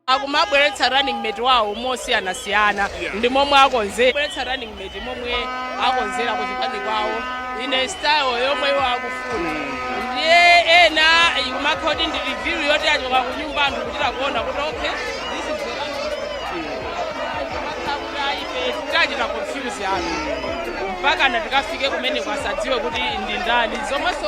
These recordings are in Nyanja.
akumabweretsa running mate wawo mosiyanasiyana Yeah. ndi momwe akonzera bweretsa running mate momwe akonzera ku chipani kwawo mu style yomwe iwo akufuna ndiye ena ikumakhala kuti ndi reveal yoti achoka ku nyumba anthu kuchita kuona kuti okay this is the running mate. Kumakhala kuti ayi, ife tachita confuse anthu mpaka na tikafike kumene kwasadziwe kuti ndi ndani zomwenso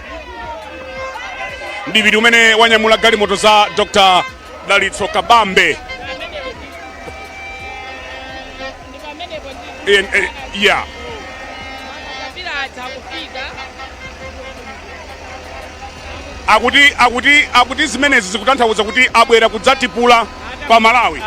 mdipiti umene wanyamula galimoto za dr dalitso kabambe En- eh, yeah. akuti akuti akuti zimenezi zikutanthauza kuti abwera kudzatipula pa malawi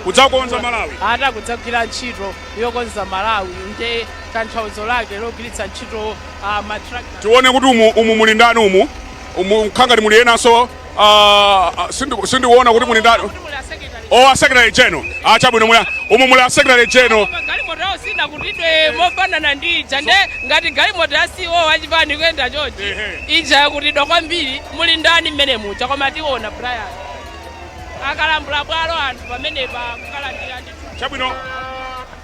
kudzakonza malawi ata kudzagwira ntchito yokonza malawi nde tanthauzo lake logwiritsa ntchito Ah, ma tractor. tione kuti umu, umu muli ndani umu umu mukhala ngati muli enanso ah, ah, sindi- sindikuona kuti muli ndani Kuti muli a secretary. o a secretary general ah, chabwino muli a- umu muli a secretary general Koma galimoto yawo sinakutidwe mofanana ndi ija nde ngati galimoto ya CEO wachipani kuyenda chonchi Ehe. ija yakutidwa kwambiri muli ndani mmene muja koma tiona Brian akulambula bwalo anthu pamenepa kukalandira ndi chabwino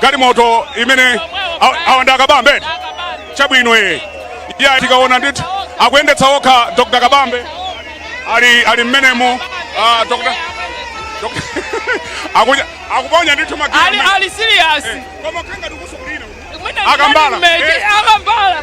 galimoto imene aw- awa ndi a kabambe chabwino iye iya tikaona ndithu akuyendetsa okha dr kabambe ali ali mmenemo ah, dr Dr. Akuja- akuponya ndithu magiya ali mmene. ali serious Eh, koma kanga ndikusokulira uku. mwina Akambala. ndimene- Eh. akambala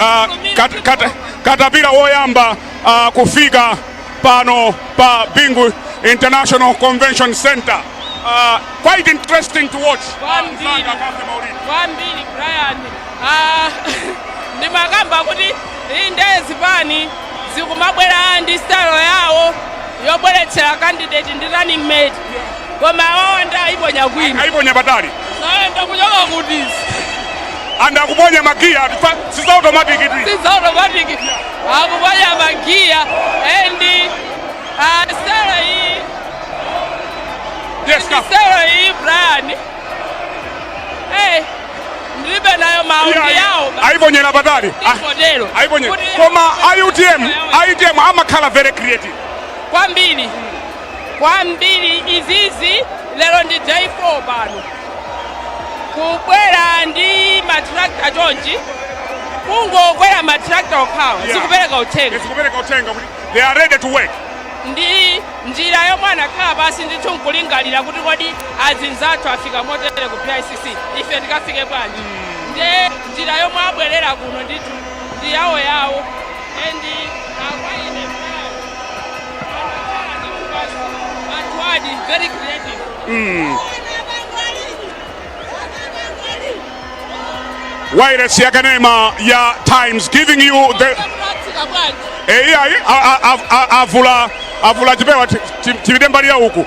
uh, kat, kat, katapila woyamba uh, kufika pano pa Bingu International Convention Center. Uh, quite interesting to watch. Kwambiri. Kwambiri Brian. Ah, ndimakamba kuti inde zipani zikumabwera ndi style yawo yobweretsera candidate ndi running mate koma awawa nde ayiponya kwina ayiponya patali ndi ayenda kuchoka kuti and akuponya magiya si za automatic tu si za automatic akuponya magiya and uh, style iyi yes, style iyi Brian hey ndilibe nayo mawu ine ayiponyera patali ah, ayiponyera koma a utm a utm amakhala very creative kwambiri kwambiri izizi lero ndi day 4 pano kubwera ndi matrakta chonchi kungokwera matrakta okhawa Yeah. zikupereka uthenga zikupereka uthenga kuti they are ready to work ndi njira yomwe anakhala pansi ndithu nkulingalira kuti kodi azinzathu afika motere ku bicc ife tikafike bwanji nde njira yomwe abwerera kuno ndithu ndi yawo yawo and akwaine Wireless ya kanema ya Times giving you the eh, iya, iya, a- a- a- a- avula avula chipewa ti- ti- tibide mbali ya uku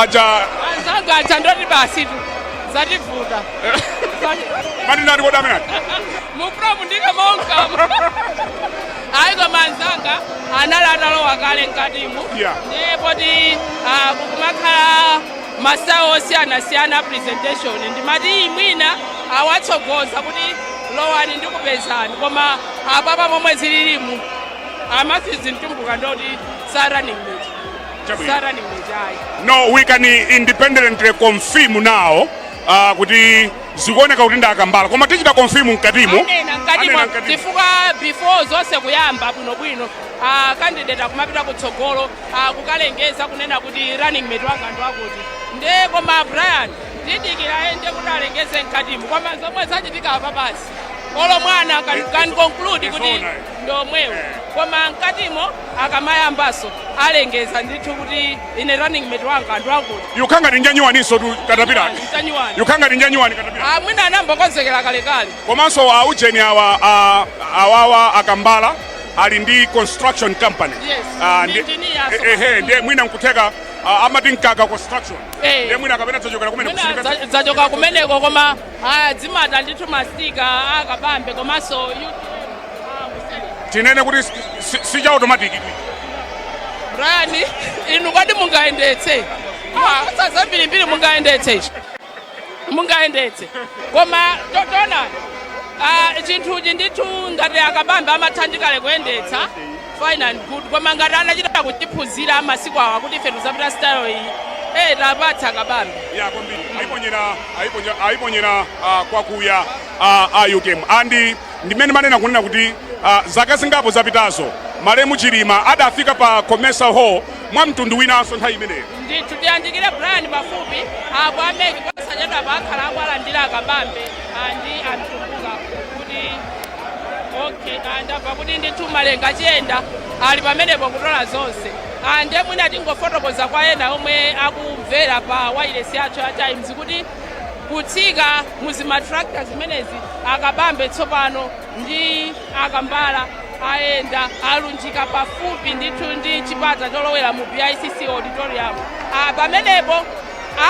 aja anzanga aja ndoti basi tu zativuta matinati kodi amene aja mupromu ndine monkamu ayi koma anzanga anali atalowa kale mkatimu Yeah. ndiye poti ah, kukumakhala ma style osiyanasiyana a presentation ndimati iyi mwina awatsogoza kuti lowani ndikupezani koma apapa momwe zililimu a matthews mtumbuka ndoti sa running mate sa running mate ayi no we can independently confirm now uh, kuti zikuoneka kuti ndi akambala koma tichita confirm mkatimo anena mkatimo chifukwa before zonse kuyamba bwinobwino ah, candidate akumapita kutsogolo ah, kukalengeza kunena kuti running mate wanga ndi wakuti nde koma brian tidikira ende kuti alengeze mkatimo koma zomwe zachitika apa basi olo mwana can, can conclude kuti ndi omwewo koma mkatimo akamayambaso alengeza ndithu kuti ine running mate wanga ndi akuti yukhala ngati njanyuwaninso tu katapira Njanyuwani. yukhala ngati njanyuwani katapira Ah, mwina anangokonzekera kalekale komanso a ujeni awa a- awawa akambala ali ndi construction company Yes. Ah, Ndi ndi- engineer aso. eh, eh, ndiye mwina nkutheka ah, amati mkaka construction Eh. ndiye mwina kapena dzachokera kumene mwina kusilikasi. dza- dzachoka kumeneko koma Ayi adzimata ndithu mastika a kabambe komanso yu- ah, kuseri. tinene kuti si- si- si cha automatic Brian inu kodi mungayendetse Ah, kosa zambirimbiri mungayendetse ichi mungayendetse koma taona ah, chinthuchi ndithu ngati akabambe amatha ndi kale kuyendetsa fine and good koma ngati anachita kuchiphunzira masiku awa kuti ife tuzapita style iyi eh tapatsa kabambe ya kwambiri ayiponyera ayiponyera ayiponyera ah, kwakuya ah, a UTM andi ndimene manena kunena kuti ah, zaka zingapo zapitazo malemu chilima adafika pa comesa hall mwa mtundu winanso nthawi imeneyo ndithu tiyandikire brian pafupi apo a MEC posachedwapa akhala akuwalandira akabambe andi amtumbuka kuti okay ah, ndamva kuti ndithu malenga chiyenda ali pamenepo kutola zonse Ah, ndiye mwina tingofotokoza kwa ena omwe akumvera pa wailesi yathu ya times kuti kutsika muzimatrakta zimenezi akabambe tsopano ndi akambala ayenda alunjika pafupi ndithu ndi chipata cholowera mu bicc auditorium Ah, pamenepo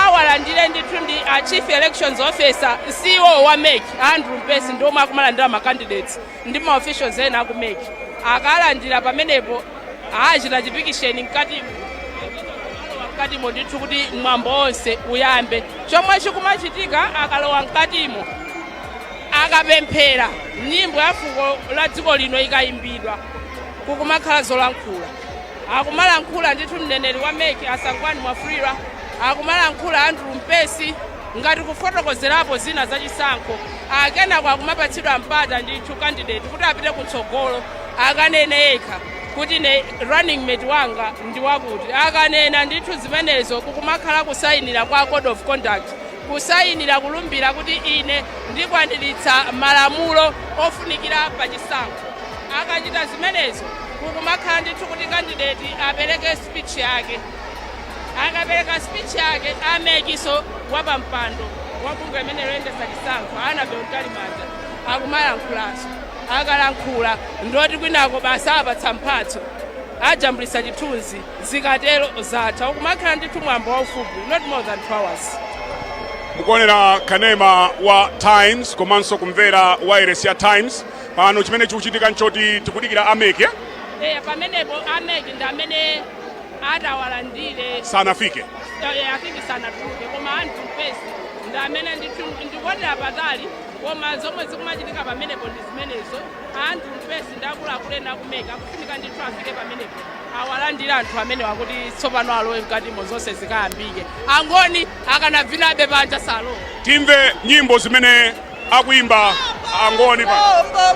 awalandire ndithu ndi a chief elections officer ceo wa mec andrew mpesi ndi omwe akumalandira ma candidates ndi ma officials ena aku mec akalandira pamenepo achita chipikisheni mkatimo alowa mkatimo ndithu kuti mwambo onse uyambe chomwe chikumachitika akalowa mkatimo akapemphera nyimbo ya fuko la dziko lino ikayimbidwa kukumakhala zolankhula akumalankhula ndithu mneneri wa mec a sangwani mwafulirwa akumalankhula andrew mpesi ngati kufotokozerapo zina za chisankho kenako akumapatsidwa mpata ndithu candidate kuti apite kutsogolo akanene yekha kuti ne running mate wanga ndi wakuti akanena ndithu zimenezo kukumakhala kusayinira kwa code of conduct Kusayinira kulumbira kuti ine ndikwaniritsa malamulo ofunikira pa chisankho. Akachita zimenezo kukumakhala ndithu kuti kandideti apereke speech yake. Akapereka speech yake a mec so wapampando wa bungwe limeneli loyendetsa chisankho a Annabel Mtalimanja akumalankhulaso. Akalankhula ndioti kwinako basi apatsa mphatso. Ajambulitsa chithunzi. zikatero zatha kukumakhala ndithu mwambo waufupi not more than 2 hours mukuonera kanema wa times komanso kumvera wailesi ya times pano chimene chikuchitika nchoti tikudikira a mec eya pamenepo a mec ndi amene atawalandire sanafike afike sanatuluke koma andrew mpesi ndi amene ndikuonera patali koma zomwe zikumachitika pamenepo ndi zimenezo andrew mpesi ndi akuluakulu ena aku mec akufunika ndithu afike pamenepo Awalandire anthu amenewa kuti tsopano alowe mkatimo zonse zikayambike. Angoni akanavinabe panja sanalowe. Timve nyimbo zimene akuyimba Angoni pano.